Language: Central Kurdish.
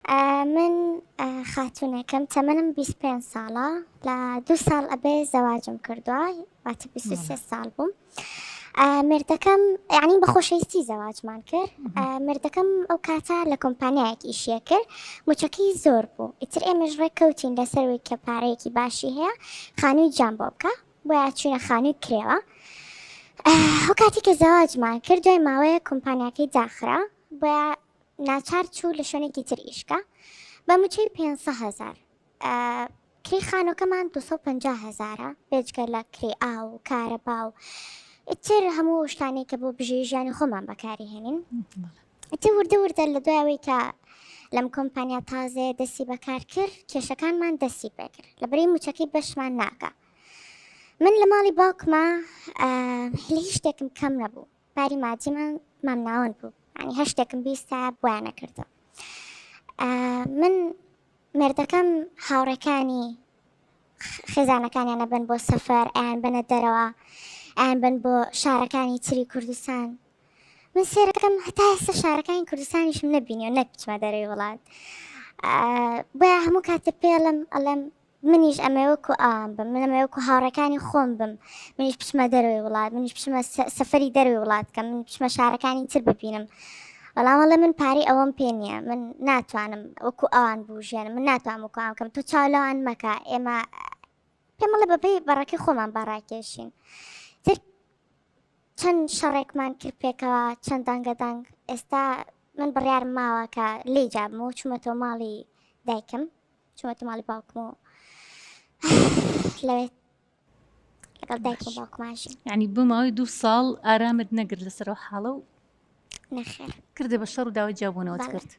من خاتونێکم تەمەنم بیست پێنج ساڵە لە دوو ساڵ ئەبێ زەواجم کردووە واتە بیست و سێ ساڵ بووم مردەکەم یعنی بە خۆشەویستی زەواجمان کرد مردەکەم ئەو کاتە لە کۆمپانیایەک ئیشیە کرد موچەکەی زۆر بوو ئیتر ئێمەش ڕێک کەوتین لەسەروی کە پارەیەکی باشی هەیە خانووی جام بۆ بکە بۆە چوینە خانووی کرێوە ئەو کاتی کە زەواجمان کرد دوای ماوەیە کۆمپانیاکەی داخرا بۆە ناچار چوو لە شوێنێکی تر ئیشکا بە موچەی پێنج هەزار کری خانۆکەمان 250 هزارە بێجگە لە کری ئا و کارە با و ئیتر هەموو شتانی کە بۆ بژێ ژیانی خۆمان بەکاری هێنین ئەتە وردە وردە لە دوایەوەی کە لەم کۆمپانیا تازێ دەستی بەکار کرد کێشەکانمان دەستی پێکرد لە بری موچەکەی بەشمان ناکە من لە ماڵی باوکمە هیچ شتێکم کەم نەبوو باری مادیمان مامناوەند بوو یانی هەر شتێکم بیستا بۆیان ئەکردم من مێردەکەم هاوڕێکانی خێزانەکانیان ئەبەن بۆ سەفەر ئەیان بەنە دەرەوە ئەیان بن بۆ شارەکانی تری کوردستان من سێرەکەم هەتا ئێستا شارەکانی کوردستانیشم نەبینی و نەکچمە دەرەوەی وڵات بۆ هەموو کاتە پێڵم ئەڵم منیش ئەمەوێ وەکو ئەوان بم من ئەمەوێ وەکو هاوڕێکانی خۆم بم منیش بچمە دەرەوەی وڵات منیش بچمە سەفەری دەروی وڵات بکەم من بچمە شارەکانی تر ببینم بەڵام وەڵێ من پارەی ئەوەم پێ نییە من ناتوانم وەکو ئەوان بژێن من ناتوان وکوان بکەم تۆ چاو لەوان مەکە ئێمە پێمەڵە بەپی بەڕەکە خۆمان باڕاکێشین تر چەند شەڕێکمان کرد پێکەوە چەند دەنگەدەنگ ئێستا من بڕیار ماوە کە لی جابمەوە چوومەتەوە ماڵی دایکم چومەتە ماڵی باوکم و لەوێت لەگەڵ دایکم باوکمانشی ینی بماوەی دوو ساڵ ئارامت نەگر لەسەر و حاڵە و نەخێر کردێ بە شەڕ و داوای جیابوونەوەت کرد